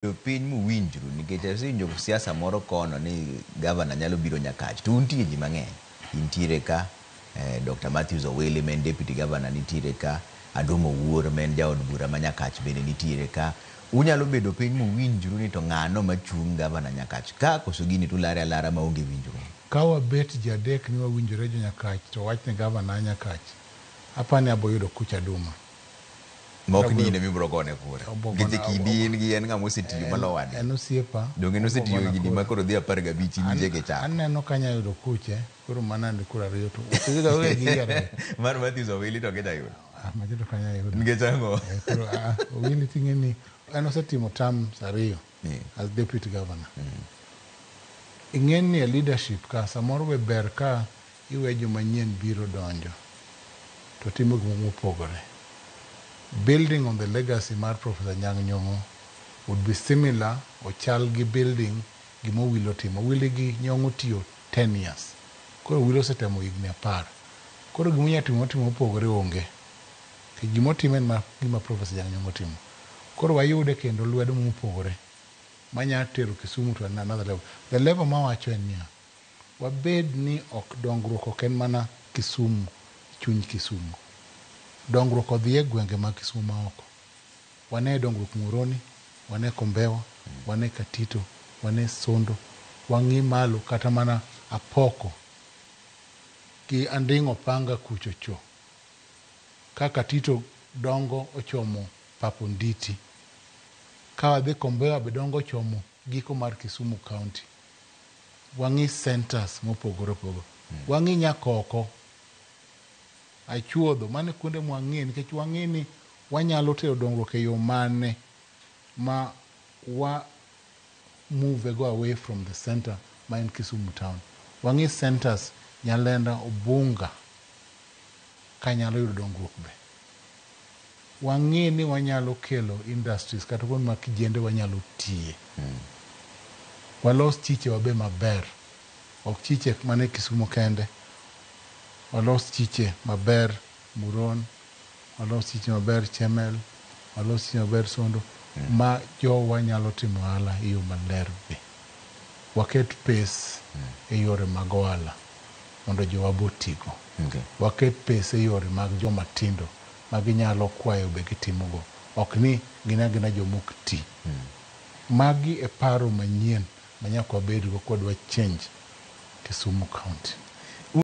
Jopiny muwinjru nikech asewinjo siasa moro kono ni governor nyalo biro Nyakach to untie ji mang'eny. Intiere ka, Dokta Matthews Owili ma en deputy governor nitiere ka, Adom Owuor ma en jaod bura ma Nyakach bende nitiere ka. Unyalo bedo piny muwinjru ni to ng'ano machung' governor Nyakach ka koso gini to ulare alara maonge winjruok. Ka wabet ji adek ni wawinjore jo Nyakach to wach ni governor a Nyakach, apani aboyudo kuch aduma. ma ok ni in ema ibiro gone kura. Nikech e kindi in gi en ng'ama osetiyo malowo adi? En osiepa. Donge ne osetiyo higni ma koro dhi apar gabich in injege ichako? Aneno ka anyalo yudo kuche, koro mano and kura ariyo to Mar Matthews Owili to ok inyal yudo? Ah, macha to ok anyal yudo. Nikech ang'o? Eh, koro, ah, ah, Owili ting'e ni en osetimo terms ariyo Yeah. as deputy governor. Ing'e ni e leadership ka samoro be ber ka Iwe jomanyien biro donjo to timo gik moko mopogore. Building on the legacy mar Professor Anyang' Nyong'o would be similar ochal gi building gima Owilo timo. Owili gi Nyong'o otiyo ten years. Koro Owilo osetemo higni apar. Koro gima onyalo timo motimo mopogore onge. Nikech gima otimo en mana gima Professor Anyang' Nyong'o otimo. Koro wayude kendo lwedo mopogore manyalo tero Kisumu to another level. The level mawacho en niya, Wabed ni ok dongruok ok en mana Kisumu e chuny Kisumo. Dongruok odhi e gwenge mag Kisumo ma oko. Wane dongruok Muhoroni, wane Kombewa, wane Katito, wane Sondo, wang'i malo kata mana Apoko gi Anding' Opanga kucho cho. Ka Katito dongo ochomo pap Onditi. Ka wadhi Kombewa be dongo ochomo giko mar Kisumu County. Wang'i centers mopogore opogore. Wang'i nyaka oko. Achuodho. Mano e kuonde ma wang'iye nikech wang'i ni wanyalo tero dongruok e yo mane ma wa move go away from the center ma en Kisumu town. Wang'i centers, Nyalenda, Ubunga ka nyalo yudo dongruok be. wang'e ni wanyalo kelo industries kata kuonde ma kijende wanyalo tiye. Walos chiche wa be maber. Ok chiche mana e Kisumo kende. Walos chiche maber Muron, walos chiche maber Chemel, walos chiche maber Sondo ma jowa nyalo timo ohala e yo maler be. Waket pes e yore mag ohala. mondo jowa be otigo. Waket pesa e yore mag joma tindo ma ginyalo kwayo be gitimogo, ok ni gin agina joma ok ti. Magi e paro manyien ma nyaka wabedgo kwa dwa change Kisumu County.